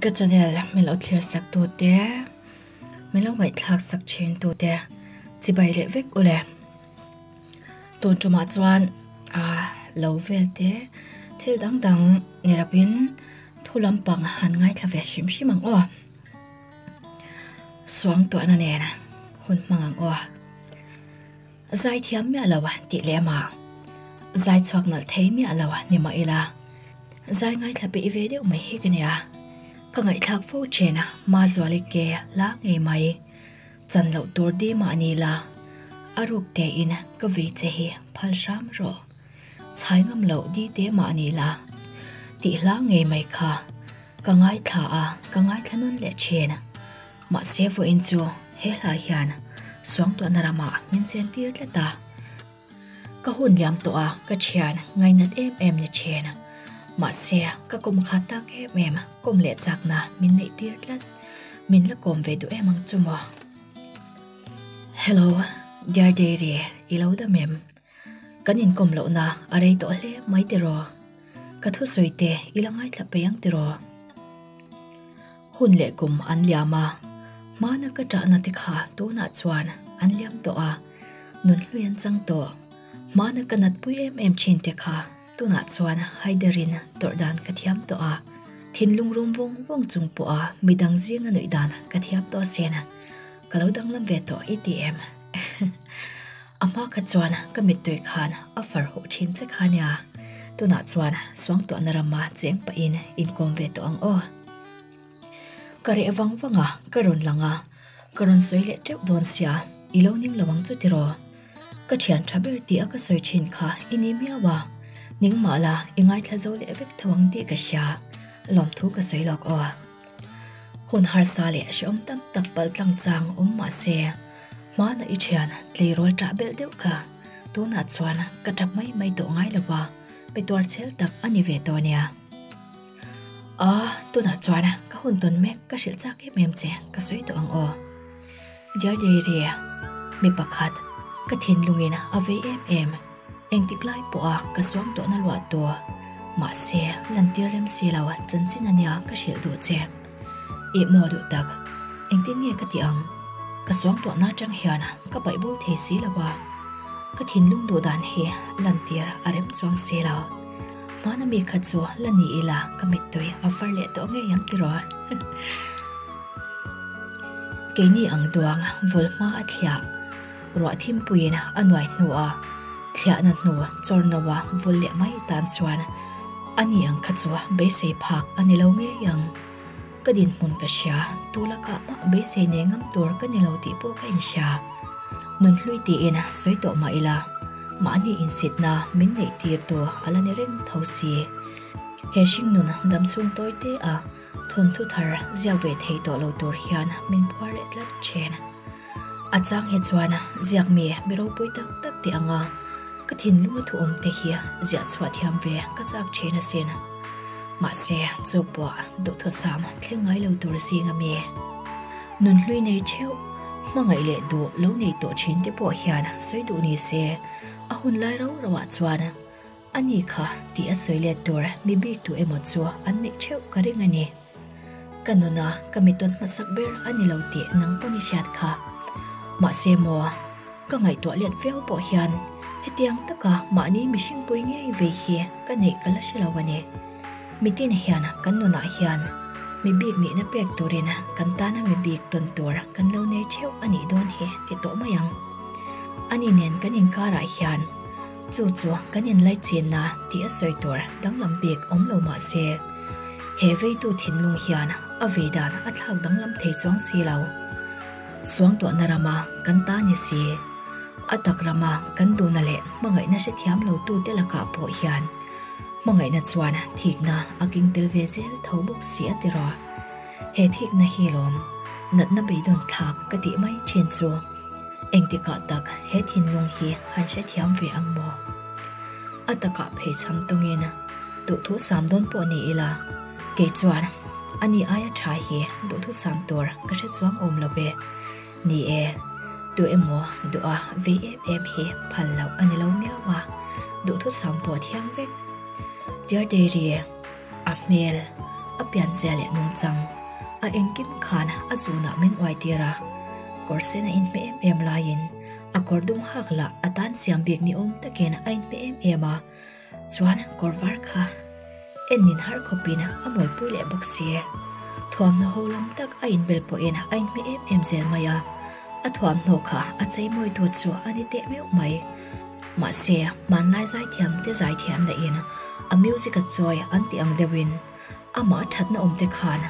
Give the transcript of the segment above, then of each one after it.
Ka channel min lo thlir sak tu te min lo ngaihthlak sak thin tu te chibai leh vek u le tun tuma chuan aa lo vel te thil dang dang ni lo in thu lampang han ngaithla ve hrim hrim ang aw suangtuahna nen hun hmang ang aw. Zai thiam miah lo a tih leh mah. Zai chhuak nalh thei miah lo a ni mah ila. Zai ngaithla peih ve deuh mai hi ka nia. Ka ngaihthlak fo chen a, ma zuali ke la ngei mai. Chan loh tur di mah ni ila. A ruk tein ka vei che hi phal hram rawh. Chhai ngam lo di te mah ni ila. Tih hla ngei mai kha ka ngaithla a, ka ngaithla nawn leh chen. Mahse vawiin chu he hlai hian suangtuahna rama min chen tir tlat a, ka hun liam tawh a, ka thian ngainat em em ni thin. Mahse ka kawm khat tak em em, kawm leh chakna min neih tir tlat, min la kawm ve duh em ang chu maw. Hello dear diary, i lo dam em? Kan inkawm lohna a rei tawh hle mai tiraw? Ka thusawi te i la ngaithla pe ang tiraw? Hun leh kum an liam a, hmana ka ṭahna te kha tunah chuan an liam tawh a, nun hlui an chang tawh. Hmana ka natpui em em ṭhin te kha tunah chuan Haiderin tawrh dan ka thiam tawh a, thinlung rum vawng vawng chung pawha midang zinga nuih dan ka thiam tawh a sen. Ka lo danglam ve tawh i ti em? A hma kha chuan ka mittui khan a far huh thin che kha nia. Tunah chuan suangtuahna rama cheng pahin inkawm ve tawh ang aw. Ka reh vang vang a, ka rawn lang a, ka rawn sawi leh teuh dawn sia, i lo ning lo ang chu tiraw? Ka thian tha ber tia ka sawi thin kha i ni miau a, ningmah la i ngaithla zo leh vek theuh ang tih ka hria, lawmthu ka sawi lawk aw. Hun harsa leh hreawm tam tak pal tlang chang awm mah se, hmana i thian tleirawl tah belh deuh kha. Tunah chuan ka ṭap mai mai tawh ngai lo va, mi tuarchel tak a ni ve tawh nia. Aw, tunah chuan ka hun tawn mek ka hrilh chak em em che ka sawi tawh ang aw. Dear Dairy, mi pakhat ka thinlungin a vei em em, engtik lai pawha ka suam tawh na luah tawh, mahse lantir rem si lo, chanchin ania ka hrilh duh che. I maw duh tak, engtin nge ka tih ang, ka suam tawh na atang hian ka baih bo thei si lo a, ka thinlung duh dan hi lantir a rem chuang si lo, hmana mi kha chu la ni ila ka mitdawi a var leh tawh ngei ang tiraw? Keini ang duang vul hma a thliah. Ruah thimpuiin a nuai hnu a, thliahna hnu chawr no a vul leh mai tan chuan a ni ang kha chu beisei phak a ni lo ngei ang. Ka dinhmun ka hria, tu lakah mah beisei nei ngam tur ka ni lo tih pawh ka inhria. Nun hlui tiin sawi tawh mah ila, mahni insitna min neih tirtu a la ni reng tho si. He hringnun dam chhungtawi te a. Thawnthu thar ziak ve thei tawh lo tur hian min phuar leh tlat ṭhin. A chang hi chuan ziak mi mi ropui tak tak te anga ka thinlunga thuawm te hi ziah chhuah thiam ve ka chak ṭhin asin. Mahse, chu pawh duhthusam thleng ngai lo tur zing a mi? Nun hlui nei ṭheuh, hmangaih leh duh lo nei tawh ṭhin te pawh hian sawi duh ni se, a hun lai rau rauah chuan, A ni kha tih a sawi let tur mi bik tu emaw chu an neih theuh ka ring a ni. Ka nuna ka mitawt hmasak ber a ni lo tih nang pawn i hriat kha. Mahse maw ka ngaihtuah let viau pawh hian hetiang taka mahni mihringpui ngei ve hi ka neih ka la hre lo a ni. Mi tin hian kan nunah hian mi bik nihna pek turin kan tana mi bik tawn tur kan lo nei theuh a nih dawn hi ti tawh mai ang. A ni nen kan inkarah hian Chu chu kan inlaichinna tih a sawi tur danglam bik awm lo mah se, he veitu thinlung hian a vei dan a thlak danglam thei chuang si lo. Suangtuahna rama kan ta ni si, a tak rama kan duhna leh hmangaihna hre thiam lo tu te lakah pawh hian hmangaihna chuan thikna a keng tel ve zel tho bawk si a ti rawh. He thikna hi lawm natna beidawn thlak ka tih mai thin chu engtikah tak he thinlung hi han hrethiam ve ang maw? A takah phei chham tawngin, Duhthu sam dawn pawh ni ila, kei chuan ani aia tha hi duhthu sam tur ka hre chuang awm lo ve. Ni e, duh emaw duh a vei em em hi phal loh a ni lo miau a, duhthu sam pawh thiang vek. Dear Diary, A hmel a pianzia leh nung chang a engkim khan a zunah min uai tir a, kawr sen a inhme em em laiin a kawr dum hak lah a tan siam bik ni awm takin a inhme em em a, chuan kawr var kha en in har khawpin a mawlpui leh bawk si e. Thuamhnaho lam tak a inbel pawhin a inhme em em zel mai a. A thuamhnaw kha a cheimawi tur chu a ni teh meuh mai. Mahse, hmanlai zai thiam te zai thiam dahin a music a chawi an tih ang deuhin amah thatna awmte khan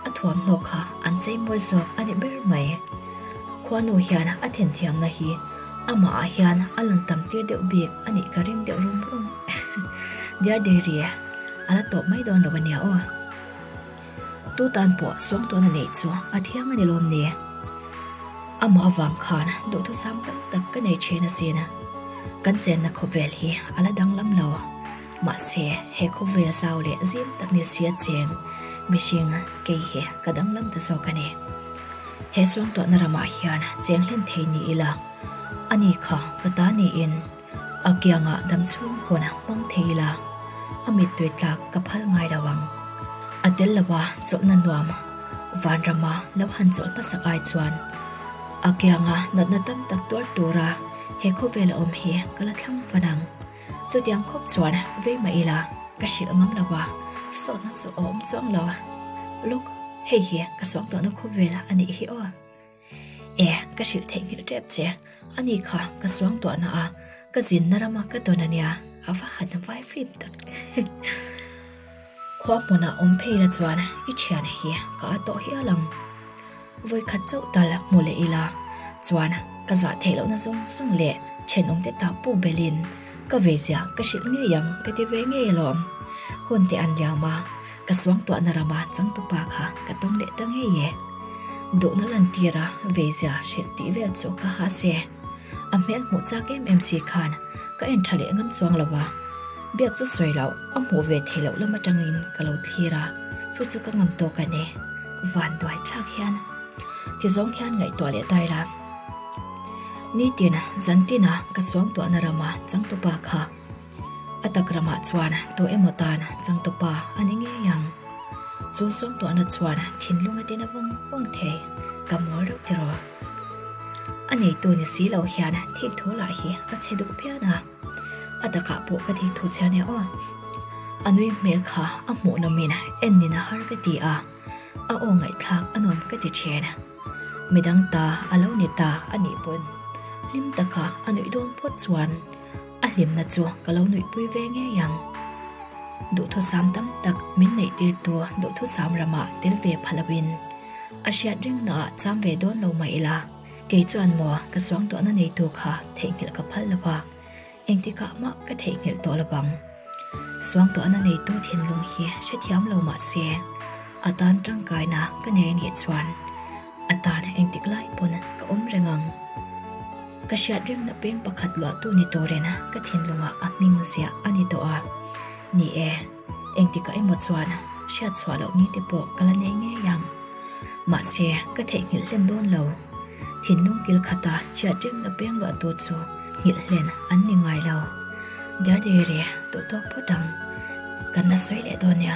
a thuamhnaw kha an cheimawi zawk a ni ber mai. Khuanu hian a then thiamna hi amahah hian a lan tam tir deuh bik a nih ka ring deuh rum rum. Dear Diary, a la tawp mai dawn lo a nia aw. Tu tan pawh suang tuan a neih chu a thiang a ni lawm ni? Amah vang khan duhthusam tam tak ka nei thin asin a, kan chenna khawvel hi a la danglam lo. Mahse, he khawvel zau leh zing tak nisia cheng mihring kei hi ka danglam ta zawk a ni. He suang tuahna ramah hian cheng hlen thei ni ila, ani kha ka ta niin, A kianga dam chhung huan a hmang thei ila, a mittuih tlak ka phal ngai lo ang. A tel lo a chawlhna nuam Vanrama lo han chawlh hmasak ai chuan a kianga natna tam tak tuar tura he khawvel a awm hi ka la thlang fan ang. Chutiang khawp chuan vei mah ila ka hrilh a ngam lo a, sawtna chu a awm chuang lo. Look, hei hi ka suak duahna khawvel a nih hi aw. E, ka hrilh theih ngilh rep che. A ni kha, ka suang duahna a, ka zinna rama ka dawn a nia, a va han vai flip tak. Khua hmuna awm phei la chuan i thian hi ka a tawh hial ang. Vawi khat chauh tal hmu leh ila chuan ka zah theih loh na zawng zawng leh then awm te ta pu belin ka vei zia ka hrilh ngei ang ka ti ve ngei alawm. Hun te an liam a. Ka suangtuahna rama changtu pa kha ka tawng leh ta ngei e. Duhna lantira veizia hrilh tih vel chu ka ha se. A hmel hmuh chak em em si khan ka en tha leh ngam chuang lo a. Biak chu sawi loh, a hmuh ve thei loh lam atangin ka lo thlir a, chu chu ka ngam tawk a ni. Van duai thlak hian tizawng hian ngaihtuah leh ta ila. Nitin, Zantina ka suangtuahna rama changtu pa kha. A tak ramah chuan tawh emaw tan chang tawpa a ni ngei ang. Chu sawmtuahna chuan thinlung atin a vawng vawng thei, ka mawl reuh tiraw? A neitu ni si lo hian thik thu lah hi a che duh pian a, a takah pawh ka thik thu chhiar nia aw. A nui hmel kha a hmuh lawmin en ni na har ka ti a, a aw ngaihthlak a nuam ka ti thin. Midang ta a lo ni ta a nih pawn hlim taka a nuih dawn phawt chuan. A hlimna chu ka lo nuihpui ve ngei ang. Duhthusam tam tak min neih tirtu duhthusam ramah tel ve pha lovin a hriat ringna ah cham ve dawn lo mah ila, kei chuan maw ka suangtuahna neitu kha theihnghilh ka phal lova, engtikah mah ka theihnghilh tawh lovang. Suangtuahna neitu thinlung hi hrethiam lo mah se, a tan tangkaina ka nei a nih chuan, A tan a endik lai pawn a ka awm reng ang. Ka hriat reng na peng pakhat luahtu ni turina ka thinlungah a hming ziah a ni tawh a. Ni e, engtikah emaw chuan hriat chhuah loh ni te pawh ka la nei ngei ang. Mahse, ka theihnghilh hlen dawn lo. Thinlung kil khata hriat reng na peng luahtu chu nghilh hlen an ni ngai lo. Dear Diary, duhtawk phawt ang. Kan la sawi leh dawn nia.